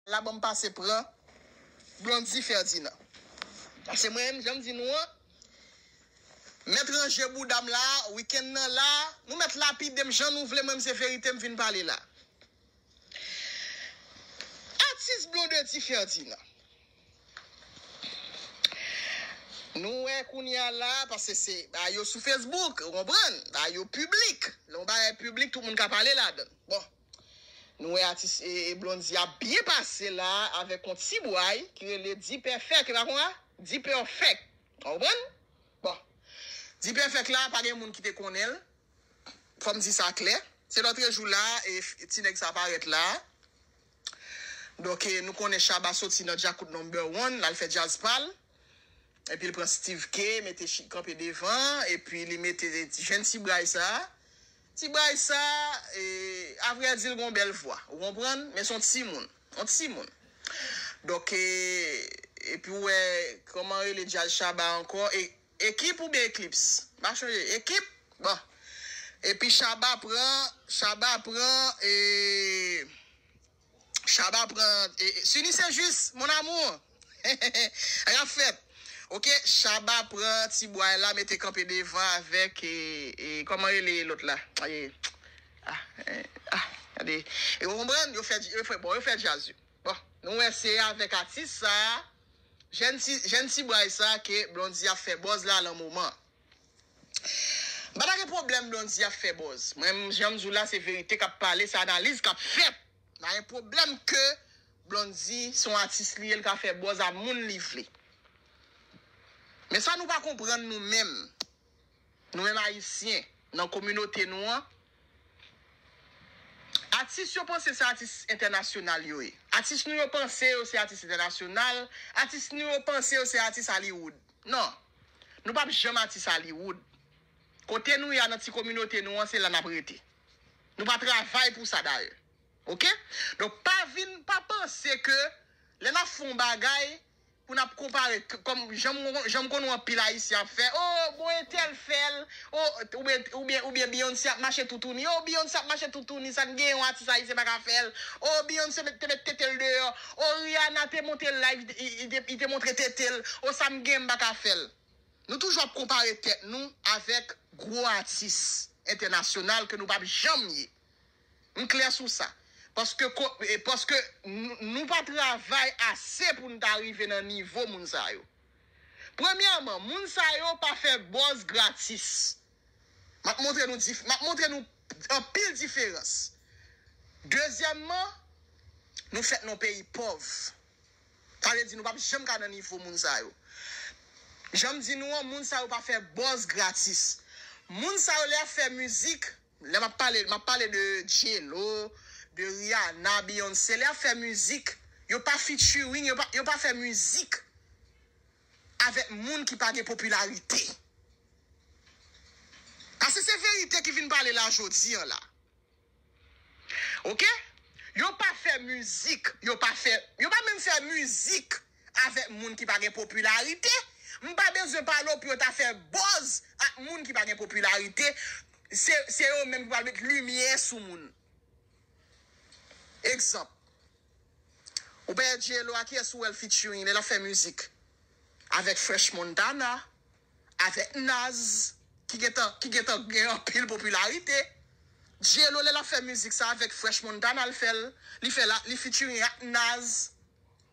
La banm pase pran Blondy Ferdinand. Se mwen menm janm di nou an mèt ranje boudam la weekend nan la nou mèt lapidem jan nou vle mwen menm se verite m vin pale la Atis Blondedy Ferdinand nou wè kounya la paske se bagay yo sou Facebook ou konprann bagay yo piblik lè yon bagay piblik tout moun ka pale ladann bon. Nou wè atis Blondy ap byen pase la avèk yon ti bway ki rele Dipèfèk e pa konsa? Dipèfèk. Ou konprann? Bon. Dipèfèk la pa gen moun ki te konnen l. Fò m di sa klè. Se lòtrejou la e ti nèg sa parèt la. Donk e nou konnen Shabba soti nan Djakout Number One l al fè djaz pa l. Epi l pran Steeve Kay mete kanpe devan epi li mete jenn ti bway sa. Ti bray sa a vrè di l gon bèl vwa ou konprann men son timoun on timoun donk epi ou wè kòman rele djaz shaba ankò ekip oubyen eklips m pa chonje ekip bon epi shaba pran shaba pran e. Shaba pran Suni se jus mon amour Anh ap fèt ok Shaba pran ti bway la mete kanpe devan avèk kòman rele lòt la ou konprann yo fè djaz yo bon nou wè se avèk atis sa jèn ti bway sa ke Blondy ap fè buzz la lan moman. Mpa ta gen pwoblèm Blondy ap fè buzz. Mwen menm jan mdiw la se verite kap pale, se analiz kap fèt. Mpa gen pwoblèm ke Blondy se yon atis li ye li ka fè buzz a moun li vle. Men sa nou pa konprann nou menm, nou menm ayisyen nan kominote nou an, Atis yo panse se atis entènasyonal yo ye. Atis nou yo panse yo se atis entènasyonal. Atis nou yo panse yo se atis Hollywood. Non. Nou pap janm atis Hollywood. Kote nou ye a nan ti kominote nou an se la n ap rete. Nou pa travay pou sa dayè. Ok? Donk pa vin, pa panse ke lè n ap fè yon bagay, Pou nap konpare kòm janm konn wè anpil ayisyen ap fè oh bon entèl fèl oh oubyen oubyen Beyoncé ap mache toutouni oh Beyoncé ap mache toutouni sa nou gen yon atis ayisyen paka fèl oh Beyoncé te met tetel deyò oh Rihanna te monte live li te montre tetel oh sa m gen m paka fèl nou toujou ap konpare tèt nou avèk gwo atis entènasyonal ke nou pap janm ye. M klè sou sa. Paske ko, paske nou pa travay ase pou n ta rive nan nivo moun sa yo. Premyèman, moun sa yo pa fè buzz gratis. M ap montre nou dif, m ap montre nou anpil diferans. Dezyèmman, nou fèt nan yon peyi pòv. Sa vle di nou pa p janm ka nan nivo moun sa yo. Jan m di nou an, moun sa yo pa fè buzz gratis. Moun sa yo lè y ap fè mizik. Lè map pale, map pale de J-Lo, de Rihanna, Beyoncé, lè yap fè mizik, yo pa featuring, yo pa, yo pa fè mizik avèk moun ki pa gen popilarite. Pase se verite ki vin pale la jodi an la. Ok? Yo pa fè mizik, yo pa fè, yo pa menm fè mizik avèk moun ki pa gen popilarite, m pa bezwen pale w pou yo ta fè buzz ak moun ki pa gen popilarite, se yo menm ki pral met limyè sou moun. Egzanp, ou pa wè J-Lo a kiyès ou wè l featuring lè l ap fè mizik? Avèk Fresh Montana, avèk Naz ki gen tan ki gen tan gen anpil popilarite. J-Lo lè l ap fè mizik sa avèk Fresh Montana l fè l, li fè l a li featuring ak Naz.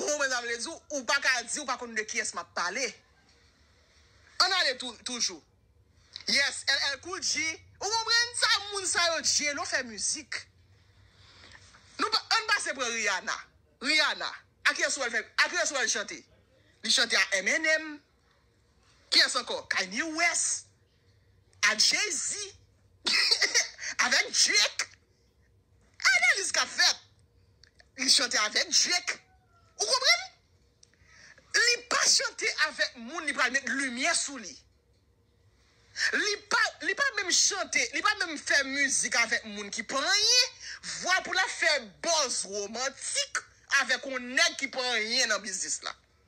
Ohh men sa vle di ou pa ka di ou pa konn de kiyès map pale Ann ale tou toujou Yes LL cool G ou konprann sa moun sa yo J-lo fè mizik Nou pa ann pase pran Rihanna Rihanna a kiyès ou wè l fè a kiyès ou wè l chante Li chante a MNM Kiyès ankò Kanye West a Jay-Z avèk Drake Analiz kap fèt li chante avèk Drake ou konprann li pa chante avèk moun li pral met limyè sou li li pa li pa menm chante li pa menm fè mizik avèk moun ki pa anyen vwa pou lap fè buzz romantik avèk yon nèg ki pa anyen nan biznis la.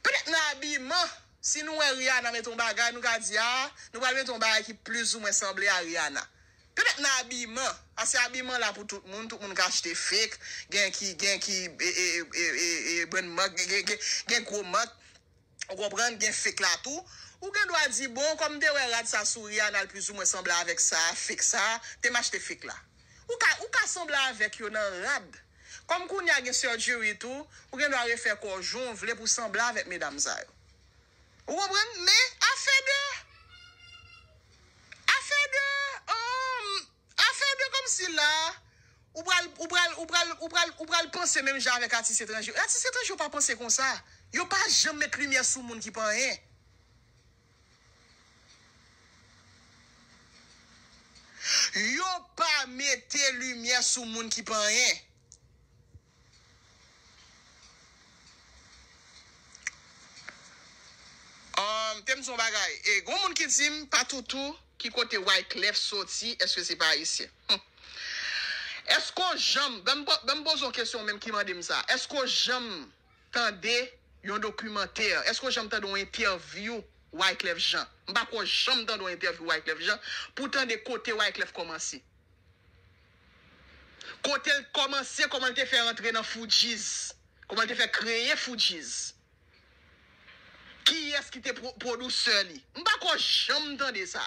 Petèt nan abiman, si nou wè Rihanna mete yon bagay, nou ka di, ah, nou pral mete yon bagay ki plizoumwen sanble a Rihanna. Petèt nan abiman, paske abiman la pou tout moun, tout moun ka achte fake, gen ki, gen ki brand mark, gen gwo mark, ou konprann, gen fake la tou. Ou gen dwa di, bon, kòm m te wè rad sa sou Rihanna l plizoumwen sanble avèk sa, fake sa, te m achte fake la. Ou ka, ou ka sanble avèk yo nan rad. Kòm kounye a gen surgery tou, ou gen dwa refè kò w jan w vle pou w sanble avèk medam sa yo. Ou konprann? Men, afè de, afè de, um, afè de kòmsi la a, ou pral, ou pral, ou pral, ou pral, ou pral panse menm jan avèk atis etranje yo. Atis etranje yo pa panse konsa. Yo pa janm met limyè sou moun ki pa anyen. Yo pa mete limyè sou moun ki pa anyen. Humm tem di yon bagay e gon moun ki dim patoutou ki kote wyclef soti eske se pa ayisyen humm eske w janm banm poze yon kesyon ou menm ki mandem sa eske w janm tande yon dokimantè? Èske w janm tande yon entèvyou Wyclef Jean? M pa kwè w janm tande yon entèvyou Wyclef Jean pou w tande kote Wyclef kòmanse. Kote l kòmanse, kòman l te fè rantre nan Fugees, kòman l te fè kreye Fugees. Kiyès ki te pwodusè li? M pa kwè w janm tande sa.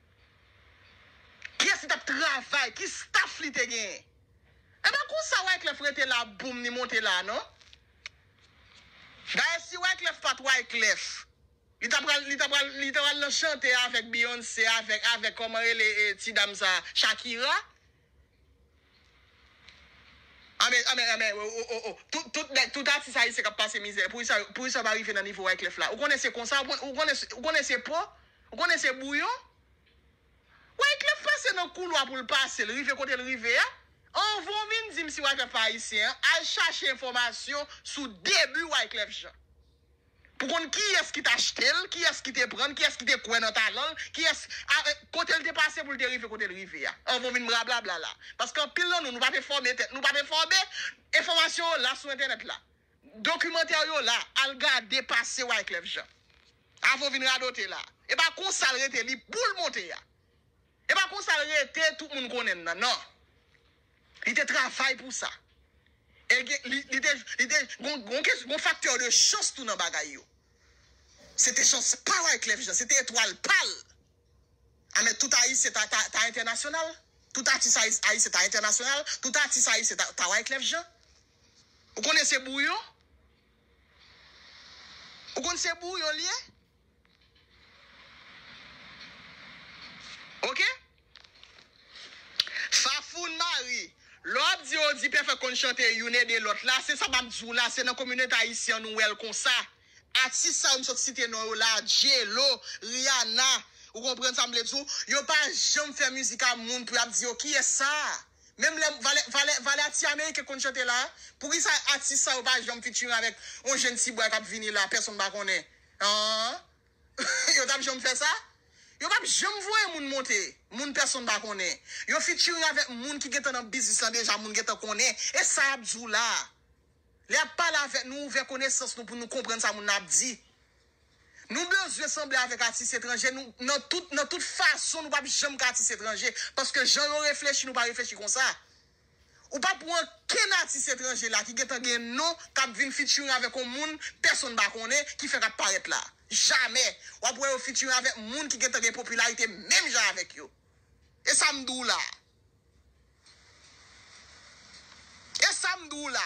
Kiyès li t ap travay? Ki staf li te genyen? E pa konsa Wyclef rete la boom li monte la non. Dayè si Wyclef pa t Wyclef, li ta pral li ta pral li ta pral nan chante avèk Beyoncé avèk avèk kòman rele ti dam sa Shakira Anmèy anmèy anmèy oh oh oh oh tout tout nèg tout atis ayisyen kap pase mizè poukisa yo poukisa yo pa rive nan nivo wyclef la ou konnen se konsa ou konnen ou konnen se ou konnen se po ou konnen se bouyon wyclef pase nan koulwa poul pase l rive kotel rive a anvan w vin dim si wyclef pa ayisyen al chache enfòmasyon sou debi wyclef jean Pou konn kiyès ki t achte l, kiyès ki te pran l, kiyès ki te kwè nan talan l, kiyès, a, kote l te pase pou l te rive kote l rive a. Anvan w vin brablabla la. Paske anpil nan nou, nou pa p enfòme tèt nou, nou pa p enfòme, enfòmasyon yo la sou entènèt la. Dokimantè yo la, al gade pase Wyclef Jean. Avan w vin radote la. E pa konsa l rete, li pou l monte a. E pa konsa l rete tout moun konnen l nan, nan. Li te travay pou sa. E gen, li, li te, li te, gon, gon kès, gon faktè de chans tou nan bagay yo. Se te chans pa Wyclef Jean, se te etwal pa l. A men tout Ayisyen ta, ta, ta entènasyonal. Tout atis ayis, ayisyen ta entènasyonal. Tout atis ayisyen ta, ta Wyclef Jean. Ou konnen se bouyon? Ou konn se bouyon l ye? Ok Fafoun Mari Lè w ap di yo di pèfèk konn chante youn ede lòt la se sa m ap di w la se nan kominote ayisyen an nou wè l konsa Atis sa yo m sot site non yo la a J-Lo Rihanna ou konprann sa m vle di w yo pa janm fè mizik a moun pou y ap di yo kiyès sa a Menm lè valè valè valè a ti ameriken k konn chante la a Poukisa atis sa yo pa janm featuring avèk yon jenn ti bway k ap vini la a pèsonn pa konnen Aww yo tap janm fè sa? Yo pap janm voye moun monte, moun pèsonn pa konnen. Yo featuring avèk moun ki gentan nan biznis lan deja, moun gentan konnen. E sa yap di w la? Lè yap pale avèk nou, ouvè konesans nou pou nou konprann sa moun nan ap di. Nou bezwen sanble avèk atis etranje, nou nan tout nan tout fason nou pap janm ka atis etranje, paske jan yo reflechi nou pa reflechi konsa. Ou pa pou ankenn atis etranje la ki gentan gen non kap vin featuring avèk on moun pèsonn pa konnen ki fèk ap parèt la. Jamè wap wè yo featuring avèk moun ki gentan gen popilarite menm jan avèk yo. E sa m di w la. E sa m di w la.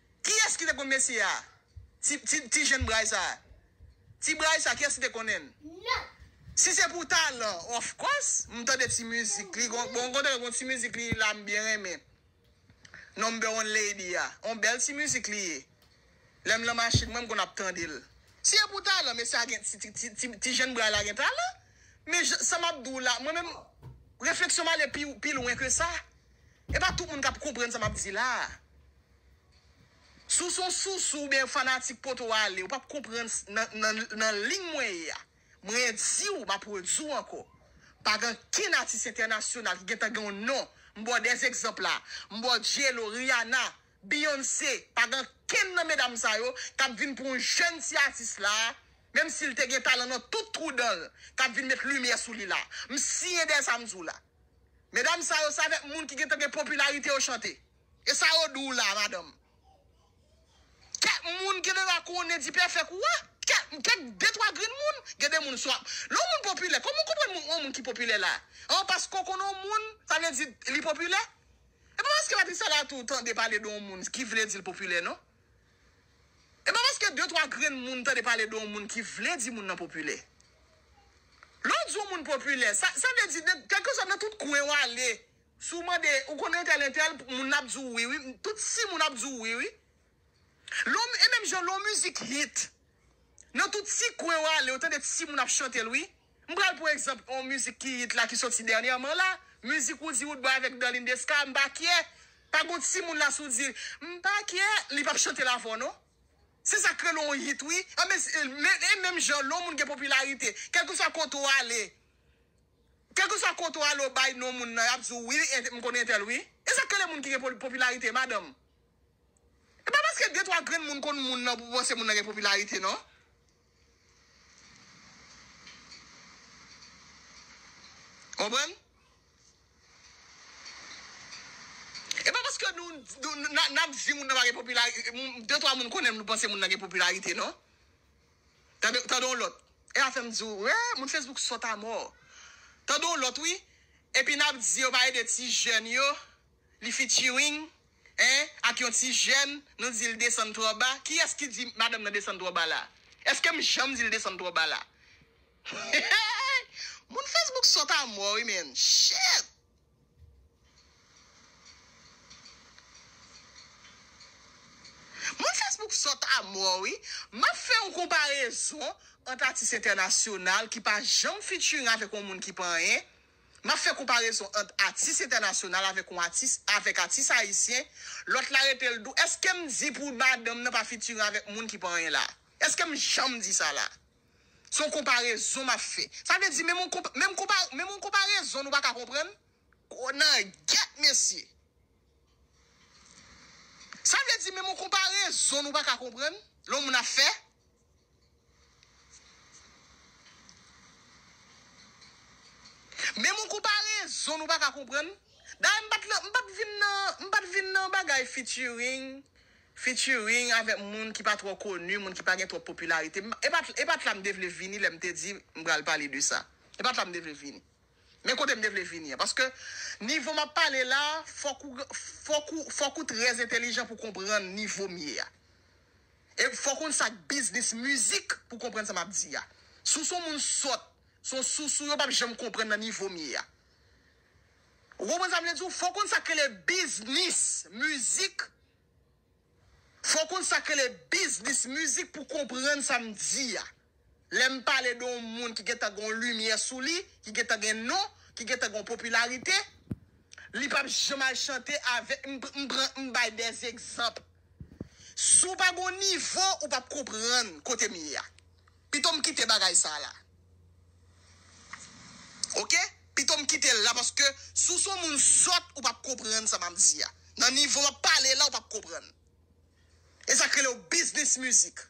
Kiyes ki te konn mesye a? Ti ti ti jenn bray sa. Ti bray sa kiyes ki te konnen l? Si se pou talan of course m tande ti mizik li gon bon gon tande gon ti mizik li la m byen renmen number one lady a on bèl ti mizik li ye lè m lan machin mwen m konn ap tande l si se pou talan mesye a gen ti ti ti ti jenn bray la gen talan men jan sa m ap di w la mwen menm refleksyon m ale pi pi lwen ke sa. E pa tout moun kap konprann sa map di la a. Si w se yon sousou oubyen fanatik poto ale, ou pap konprann nan lign mwen ye a. Mwen di w, map redi w ankò, pa gen ankenn atis entènasyonal ki gentan gen yon non, m ba w de egzanp la, m ba w J-Lo, Rihanna, Beyoncé, pa gen ankenn nan medam sa yo kap vin pou yon jèn ti atis la a, menm si l te gen talan nan tout twou dan l, kap vin met limyè sou li la a. M siyen dèyè sa m di w la. Medam sa yo se avèk moun ki gentan gen popilarite yo chante. E sa yo di w la madanm? Kèk moun genera konnen dipèfèk ou a, kèk kèk de twa grenn moun, gen de moun swa lè yon moun popilè kòman w konprann yon moun ki popilè la a paske w konnen yon moun sa vle di li popilè? E pa paske Patricia Latour tande pale de yon moun ki vle di l popilè non. E pa paske de twa grenn moun tande pale de yon moun ki vle di moun nan popilè. Lè w di yon moun popilè, sa sa vle di nan kèlkeswa nan tout kwen w ale, si w mande ou konn entèl entèl, moun nan ap di w wi wi, tout si moun ap di w wi wi. Lè w e menm jan lè yon mizik hit, nan tout ti kwen w ale ou tande ti moun ap chante l wi. M pral pran egzanp yon mizik ki yit la ki soti dènyèman la, mizik Roody Woodboy avèk Darline Desca, M pa kyè. Pa gon timoun la si w di l, M pa kyè, li p ap chante l avè w non. Se sa k rele yon yit wi. Anben, e menm jan lè yon moun gen popilarite, kèlkeswa kote w ale, kèlkeswa kote w ale w bay non moun nan, y ap di w wi, m konnen entèl wi. E sa k rele moun ki gen popilarite madanm. E pa paske de twa grenn moun konn moun nan pou w panse moun nan gen popilarite non. Konprann? E pa paske nou n ap di moun nan pa gen popilarite, de twa moun konnen m nou panse moun nan gen popilarite non. Tande tande yon lòt, e sa fè m di w, moun Facebook sòt amò. Tande yon lòt wi, epi n ap di yo pa ede ti jèn yo. Li featuring hein ak yon ti jèn nou dil desann trò ba kiyès ki di madanm nan desann trò ba la eskem janm dil desann trò ba la Moun Facebook sòt a mò wi menn shit. Moun Facebook sòt a mò wi Map fè yon konparezon ant atis entènasyonal ki pa janm featuring avèk yon moun ki pa anyen. M ap fè konparezon ant atis entènasyonal avèk yon atis avèk atis ayisyen, lòt la rete l dou, èske m di pou madanm nan pa fitiren avèk moun ki pa anyen la a? Èske m janm di sa la a? Se yon konparezon m ap fè. Sa vle di menm yon konpa, menm konpa, menm yon konparezon nou pa ka konprann? Gonaguèt mesye! Sa vle di menm yon konparezon nou pa ka konprann lè yon moun ap fè? Men moun kou pa rezon nou paka konprann. Dayè m pat lan m pat vin nan m pat vin nan bagay featuring featuring avèk moun ki pa twò koni, moun ki pa gen twòp popilarite. E pat e pat la m te vle vini lè m te di m pral pale de sa. E pat la m te vle vini. Men kote m te vle vini an. Paske nivo m ap pale la fòk ou fòk ou fòk ou trèzentelijan pou konprann nivo m ye a. E fòw konn sak biznis mizik pou konprann sa map di a. Sou son moun sòt, son sousou yo pap janm konprann nan nivo m ye a. Ou konprann sa m vle di w? Fòw konn sak rele biznis mizik fòw konn sak rele biznis mizik pou konprann sa m di a. Lè m pale de yon moun ki gentan gen yon limyè sou li, ki gentan gen non, ki gentan gen yon popilarite, li pap janm al chante avèk, m pran, m bay de egzanp. Si w pa gen yon nivo, ou pap konprann kote m ye a. Pito m kite bagay sa a la. Ok? Pito m kite l la paske si w se yon moun sòt, ou pap konprann sa m ap di a. Nan nivo m ap pale la, ou pap konprann. E sa k rele yon biznis mizik.